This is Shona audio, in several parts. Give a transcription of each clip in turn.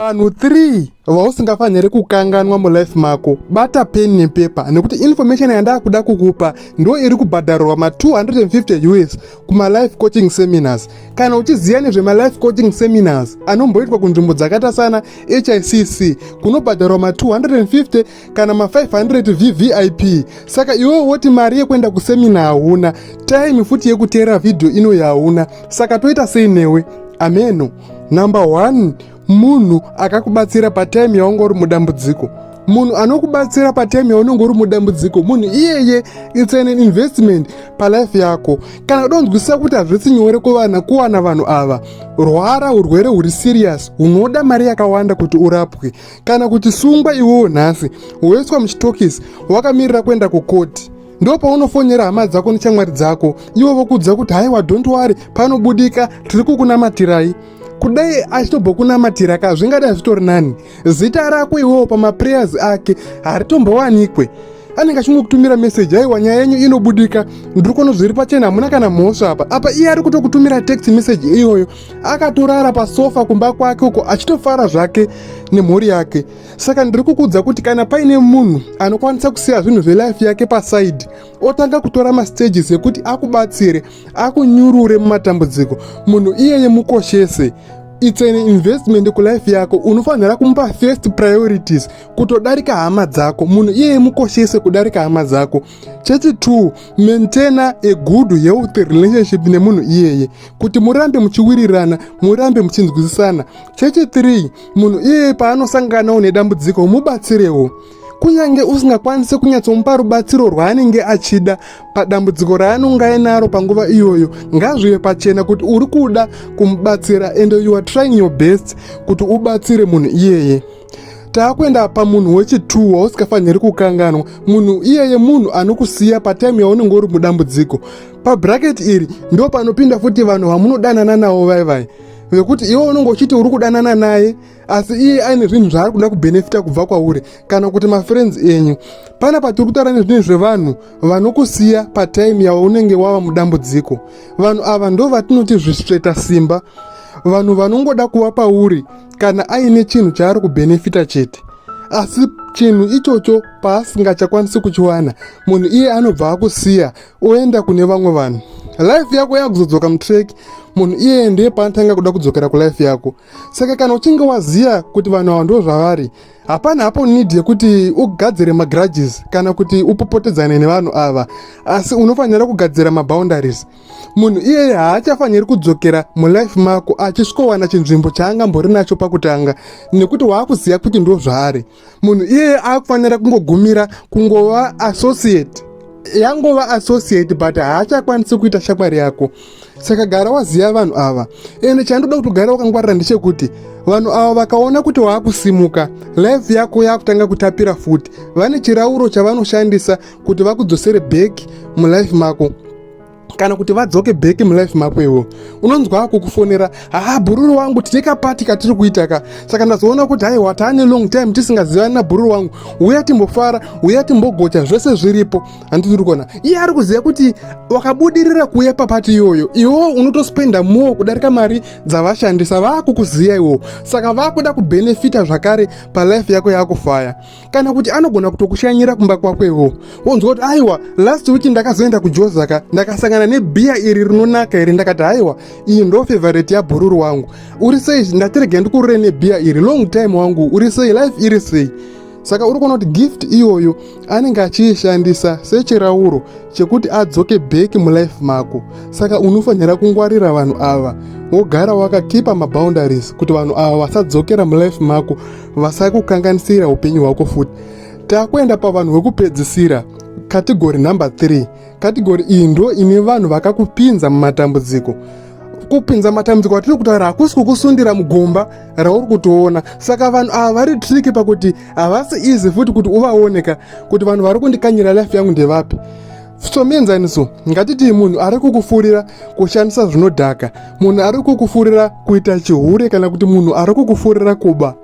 Vanhu 3 vausingafanire kukanganwa mulife mako. Bata pen nepepa nekuti information yandakuda kukupa ndo iri kubhadharwa ma 250 US kuma life coaching seminars. Kana uchiziva nezve ma life coaching seminars anomboitwa kunzvimbo dzakaita sana HICC kunobhadharwa ma 250 kana ma 500 vvip saka iwewe woti mari yekuenda kusemina hauna time futi yekuteera vhidhiyo inoyi hauna saka toita sei newe ameno number one munhu akakubatsira patime yaunga uri mudambudziko munhu anokubatsira patime yaunenge uri mudambudziko munhu iyeye its an investment palife yako kana udonzwisisa kuti hazvisi nyore kuvana kuwana vanhu ava rwara urwere huri serious hunoda mari yakawanda kuti urapwe kana kuti sungwa iwewo nhasi woiswa muchitokisi wakamirira kuenda kukoti ndo paunofonera hama dzako nechamwari dzako ivo vokudza kuti haiwa dont wari panobudika tiri kukunamatirai kudai achitobokunamatira ka zvingadai zvitori nani zita rako iwewo pamaprayers ake haritombowanikwe anenge achingokutumira meseji aiwa nyaya yenyu inobudika ndiri kuona zviri pachena hamuna kana mhosva apa apa iye ari kutokutumira text meseji iyoyo akatorara pasofa kumba kwake uko achitofara zvake nemhuri yake saka ndiri kukuudza kuti kana paine munhu anokwanisa kusiya zvinhu zvelife yake pasaidi otanga kutora mastages ekuti akubatsire akunyurure mumatambudziko munhu iyeye mukoshese its an investment kulife yako unofanira kumupa first priorities kutodarika hama dzako munhu iyeye mukoshese kudarika hama dzako chechitwo maintaina a good health relationship nemunhu iyeye kuti murambe muchiwirirana murambe muchinzwisisana chechithree munhu iyeye paanosanganawo nedambudziko mubatsirewo kunyange usingakwanise kunyatsomupa rubatsiro rwaanenge achida padambudziko raanonge ainaro panguva iyoyo ngazvive pachena kuti uri kuda kumubatsira and you are trying your best kuti ubatsire munhu iyeye taakuenda pamunhu wechituwo wausikafaniri kukanganwa munhu iyeye munhu anokusiya pataimu yaunenge uri mudambudziko pabraketi iri ndo panopinda futi vanhu vamunodanana navo vai vai vekuti iwe unenge uchiti uri kudanana naye asi iye aine zvinhu zvaari kuda kubhenefita kubva kwauri kana kuti mafriends enyu pana patiri kutaura nezvinhu zvevanhu vanokusiya pataimu yaunenge wava mudambudziko vanhu ava ndo vatinoti zvisveta simba vanhu vanongoda kuva pauri kana aine chinhu chaari kubhenefita chete asi chinhu ichocho paasingachakwanisi kuchiwana munhu iye anobva akusiya oenda kune vamwe vanhu life yako yakuzodzoka mutrack munhu iyeye ndiye paanotanga kuda kudzokera kulife yako saka kana uchinge waziva kuti vanhu ava ndo zvavari hapana hapo need yekuti ugadzire magrudges kana kuti upopotedzane nevanhu ava asi unofanira kugadzira maboundaries munhu iyeye haachafaniri kudzokera mulife mako achisvikowana chinzvimbo chaangambori nacho pakutanga nekuti waakuziva kuti ndo zvaari munhu iyeye akufanira kungogumira kungova associate yangova associate but haachakwanisi kuita shamwari yako saka gara waziva vanhu ava ende chandoda kuti ugara wakangwarira ndechekuti vanhu ava vakaona kuti waakusimuka life yako yakutanga kutapira futi vane chirauro chavanoshandisa kuti vakudzosere back mulife mako kana kuti vadzoke back mulife mako iwo unonzwa akukufonera haa bhururu wangu tine kapati katiri kuita ka saka ndazoona kuti haiwa taane long time tisingazivani nabhururu wangu uya timbofara uya timbogocha zvese zviripo handiti uri kuona iye ari kuziva kuti wakabudirira kuuya papati iyoyo iwo unotospenda more kudarika mari dzavashandisa vaakukuziva iwo saka vaakuda kubenefita zvakare palife yako yaakufaya kana kuti anogona kutokushanyira kumba kwakwewo wonzwa kuti aiwa last week ndakazoenda kujozaka ndakasangana nebhiya iri rinonaka iri ndakati aiwa iyi ndo favorite yabhururu wangu uri sei ndatirege ndikurure nebhiya iri long time wangu uri sei life iri sei saka uri kuona kuti gift iyoyo anenge achiishandisa sechirauro chekuti adzoke bheki mulife mako saka unofanira kungwarira vanhu ava wogara wakakipa maboundaries kuti vanhu ava vasadzokera mulife mako vasakukanganisira upenyu hwako futi takuenda pavanhu vekupedzisira kategori number 3 kategori iyi ndo ine vanhu vakakupinza mumatambudziko kupinza matambudziko atiri kutaura hakusi kukusundira mugomba rauri kutoona saka vanhu ava vari triki pakuti havasi easy futi kuti uvaoneka kuti vanhu vari kundikanyira life yangu ndevapi Somuenzaniso, ngatitii munhu ari kukufurira kushandisa zvinodhaka, munhu ari kukufurira kuita chihure kana kuti munhu ari kukufurira kuba.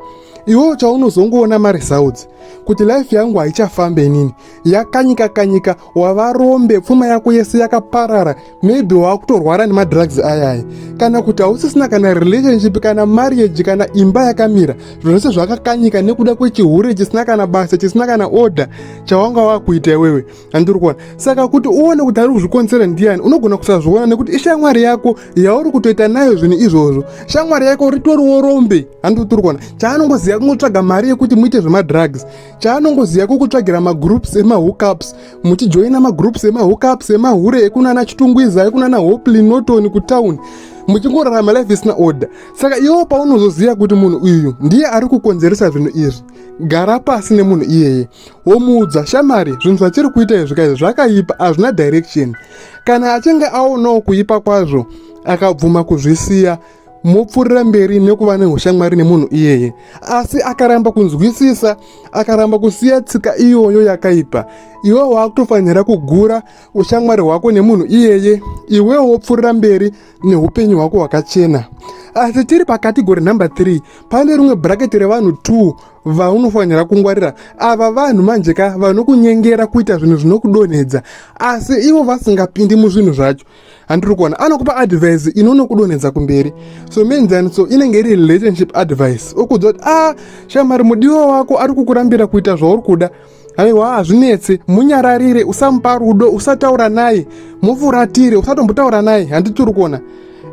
Iwo chaunozongoona maresults kuti life yangu haichafambe inini, yakanyika kanyika, wava rombe, pfuma yako yese yakaparara, maybe wakutorwara nemadrugs ayaya, kana kuti hausisina kana relationship kana marriage kana imba yakamira, zvose zvakakanyika nekuda kwechihure chisina kana basa, chisina kana order chawanga wakuita iwewe. handiri kuona saka kuti uone kuti ari kuzvikonzera ndiyani unogona kusazviona nekuti ishamwari yako yauri kutoita nayo zvinhu izvozvo shamwari yako ritoriwo rombe handiri tiri kuona chaanongoziva kungotsvaga mari yekuti muite zvemadrugs chaanongoziva kukutsvagira magroups emahookups muchijoina magroups emahookups emahure ekunana chitungwiza ekunana hopely norton kutown muchingorarama life isina order saka iwo paunozoziva kuti munhu uyu ndiye ari kukonzeresa zvinhu izvi gara pasi nemunhu iyeye womuudza shamari zvinhu zvatiri kuita izvi kaizvi zvakaipa hazvina direction kana achinge aonawo kuipa kwazvo akabvuma kuzvisiya mopfuurira mberi nekuva neushamwari nemunhu iyeye asi akaramba kunzwisisa akaramba kusiya tsika iyoyo yakaipa iwe waakutofanira kugura ushamwari hwako nemunhu iyeye iwewo wopfuurira mberi neupenyu hwako hwakachena asi tiri pakategori number 3 pane rimwe bhuraketi revanhu 2 vaunofanira kungwarira ava vanhu manje ka vanokunyengera kuita zvinhu zvinokudonhedza asi ivo vasingapindi muzvinhu zvacho handiri kuona anokupa advice inonokudonhedza kumberi so menzaniso inenge iri relationship advice okuudza kuti a ah, shamari mudiwa wako ari kukurambira kuita zvauri kuda so, aiwa hazvinetse munyararire usamupa rudo usataura naye mufuratire usatombotaura naye handitiri kuona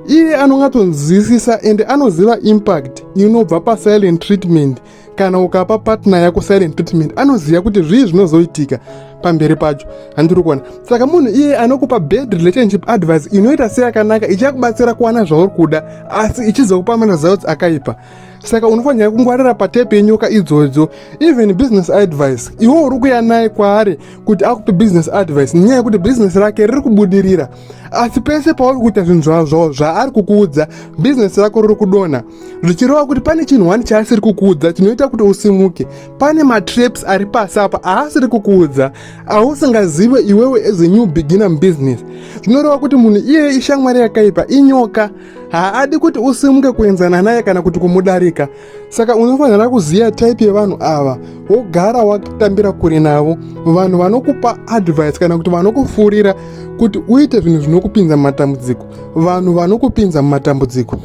iye anongatonzwisisa ende anoziva impact inobva pasilent treatment kana ukapa patner yako silent treatment anoziva kuti zvii zvinozoitika pamberi pacho handiri kuona saka munhu iye anokupa bad relationship advice inoita seyakanaka ichakubatsira kuwana zvauri kuda asi ichizokupa maresults akaipa saka unofanira kungwarira patype yenyoka idzodzo even business advice iwe uri kuya naye kwaari kuti akupe business advice nenyaya yekuti business rake riri kubudirira asi pese pauri kuita zvinhu zvazvawo zvaari kukuudza business rako riri kudonha zvichireva kuti pane chinhu wani chaasiri kukuudza chinoita kuti usimuke pane matraps ari pasi apa aasiri kukuudza ausingazive iwewe as a new beginner mubusiness zvinoreva kuti munhu iyeye ishamwari yakaipa inyoka haadi kuti usimuke kuenzana naye kana kuti kumudarika saka unofanira kuziva type yevanhu ava wogara watambira kure navo vanhu vanokupa advice kana kuti vanokufurira kuti uite zvinhu zvinokupinza mumatambudziko vanhu vanokupinza mumatambudziko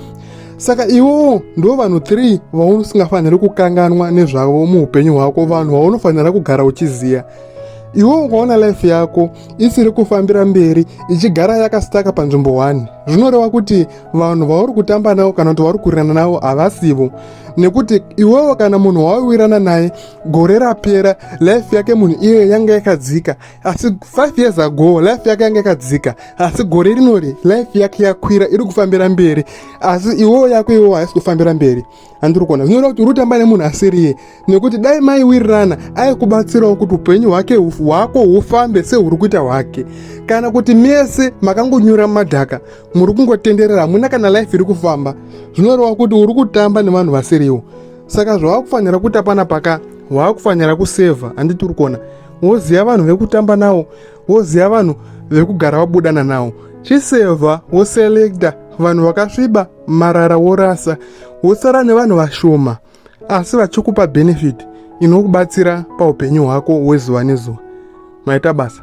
saka iwowo ndo vanhu 3 vausingafaniri kukanganwa nezvavo muupenyu hwako vanhu vaunofanira kugara uchiziva iwe ukaona life yako isiri kufambira mberi ichigara yakasitaka panzvimbo 1 zvinoreva kuti vanhu vauri kutamba navo kana kuti vauri kurirana navo havasivo nekuti iwewo kana munhu wawirana naye gore rapera life yake munhu iyoyo yanga yakadzika asi 5 years ago life yake yanga yakadzika asi gore rinori life yake yakwira iri kufambira mberi asi iwewo yako iwewo haisi kufambira mberi andiri kuona zvinoreva kuti urutamba nemunhu asiriye nekuti dai mai wirirana aikubatsirawo kuti upenyu hwake hwako hufambe sehuri kuita hwake kana kuti mese makangonyura mumadhaka muri kungotenderera hamuna kana life iri kufamba zvinoreva kuti uri kutamba nevanhu vasiriwo saka zvavakufanira kuti apana paka waakufanira kusevha handiti uri kuona woziva vanhu vekutamba nawo woziva vanhu vekugara wabudana nawo chisevha woselekta vanhu vakasviba marara worasa wosara nevanhu vashoma asi vachikupa benefit inokubatsira paupenyu hwako hwezuva nezuva maita basa